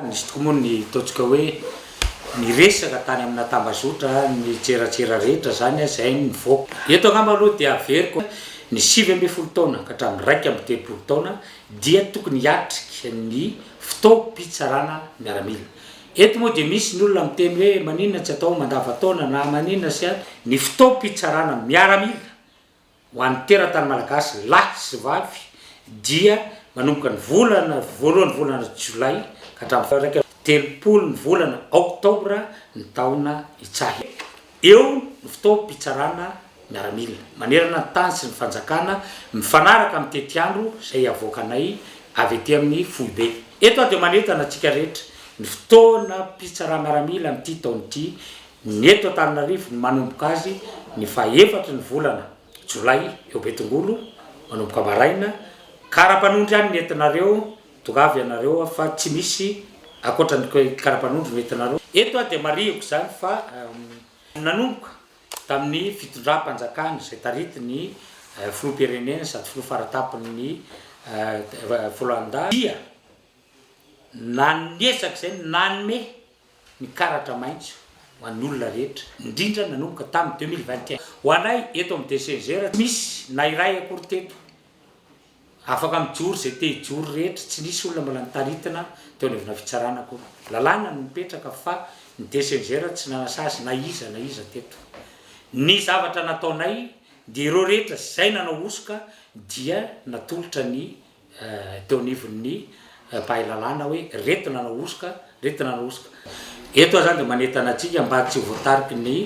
Nisy tokoa moa ny ataontsika hoe niresaka tany amina tambazotra ny tserasera rehetra izany izay nivoaka. Eto angamba aloha dia averiko ny sivy ambin'ny folo taona ka hatramin'ny iraika amby telopolo taona dia tokony hiatrika ny fotoam-pitsarana miaramila. Eto moa dia misy ny olona miteny hoe maninona tsy atao mandavataona na maninona sy ny fotoam-pitsarana miaramila ho an'ny teratany malagasy lahy sy vavy dia manomboka ny volana voalohan'ny volana jolay ka hatramin'ny faran'ny telopolo ny volana oktobra ny taona itsaha. Eo ny fotoam-pitsarana miaramila manerana ny tany sy ny fanjakana mifanaraka amin'ny tetiandro izay avoakanay avy ety amin'ny foibe. Eto aho dia manentana antsika rehetra, ny fotoanam-pitsara-miaramila amin'ity taona ity, ny eto Antananarivo, ny manomboka azy ny faha efatry ny volana jolay eo Betongolo, manomboka maraina, ka ara-panondro ihany ny entinareo, Tongava ianareo ao fa tsy misy ankoatra ny karapanondro no entinareo eto aho dia marihiko izany fa nanomboka tamin'ny fitondram-panjakana izay taritin'ny filoham-pirenena sady filoha fara-tampon'ny Rwanda dia nanezaka izay ny nanome ny karatra maitso ho an'ny olona rehetra indrindra nanomboka tamin'ny deux mille vingt et un ho anay eto amin'ny DCGR tsy misy na iray akory teto Afaka mijoro izay te hijoro rehetra, tsy nisy olona mbola nitaritina teo anivona fitsarana akory. Lalàna no nipetraka fa ny DCGR tsy nanasazy na iza na iza teto. Ny zavatra nataonay dia ireo rehetra izay nanao hosoka dia natolotra ny teo anivon'ny mpahay lalàna hoe reto nanao hosoka, reto nanao hosoka. Eto aho izany dia manentana antsika mba tsy ho voatariky ny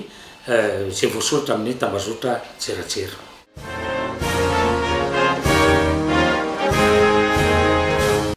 izay voasoratra amin'ny tambazotra an-tserasera.